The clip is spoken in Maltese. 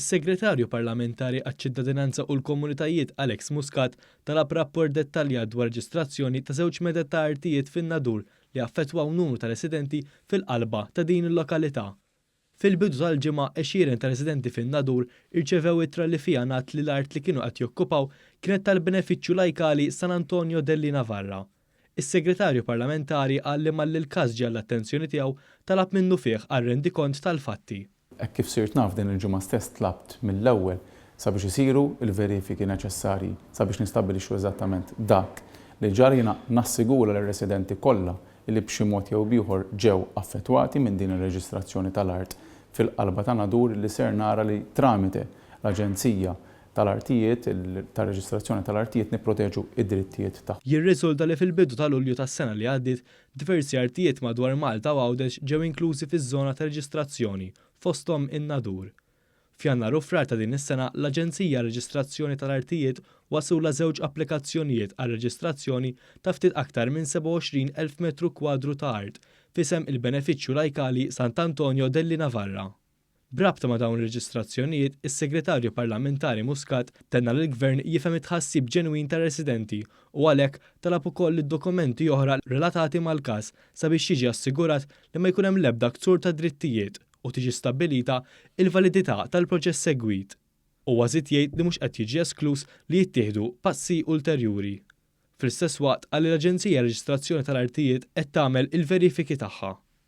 Is-Segretarju Parlamentari għaċ-Ċittadinanza u l-Komunitajiet Alex Muscat talab rapport dettaljat dwar reġistrazzjoni ta' żewġ meded ta' artijiet fin-Nadur li affettwaw numru ta' residenti fil-qalba ta' din il-lokalità. Fil-bidu tal-ġimgħa, għexieren ta' residenti fin-Nadur irċevew ittra li fiha ngħad li l-art li kienu qed jokkupaw kienet tal-benefiċċju lajkali San Antonio Delli Navarra. Is-Segretarju Parlamentari qal li malli l-każ ġie għall-attenzjoni tiegħu, talab minnu fih għal rendikont tal-fatti. Hekk kif sirt naf din il-ġimgħa stess tlabt mill-ewwel sabiex isiru l-verifiki neċessarji sabiex nistabbilixxu eżattament dak li ġara jiena nassigura lir-residenti kollha li b'xi mod jew b'ieħor ġew affettwati minn din ir-reġistrazzjoni tal-art fil-qalba ta' nadur li ser nara li tramite l-Aġenzija tal-artijiet, tar-reġistrazzjoni tal-artijiet nipproteġu d-drittijiet tagħhom. Jirriżulta li fil-bidu ta' Lulju tas-sena li għaddiet, diversi artijiet madwar Malta u Għawdex ġew inklużi fiż-żona ta' reġistrazzjoni, fosthom in-Nadur. F'Jannar u Frar ta' din is-sena, l-Aġenzija għar-Reġistrazzjoni tal-Artijiet waslulha żewġ applikazzjonijiet għar-reġistrazzjoni ta' ftit aktar minn 27 elf metru kwadru ta' art f'isem il-Benefiċċju Lajkali Sant'Antonio dell'Inavarra. B'rabta ma' dawn ir-reġistrazzjonijiet, is-Segretarju Parlamentari Muscat tenna li l-Gvern jifhem it-tħassib ġenwin tar-residenti u għalhekk talab ukoll li dokumenti oħra relatati mal-każ sabiex jiġi assigurat li ma jkun hemm l-ebda ksur tad-drittijiet u tiġi stabbilita l-validità tal-proċess segwit. Huwa żied jgħid li mhux qed jiġi eskluż li jittieħdu passi ulterjuri. Fl-istess waqt qal li l-Aġenzija Reġistrazzjoni tal-Artijiet qed tagħmel il-verifiki tagħha.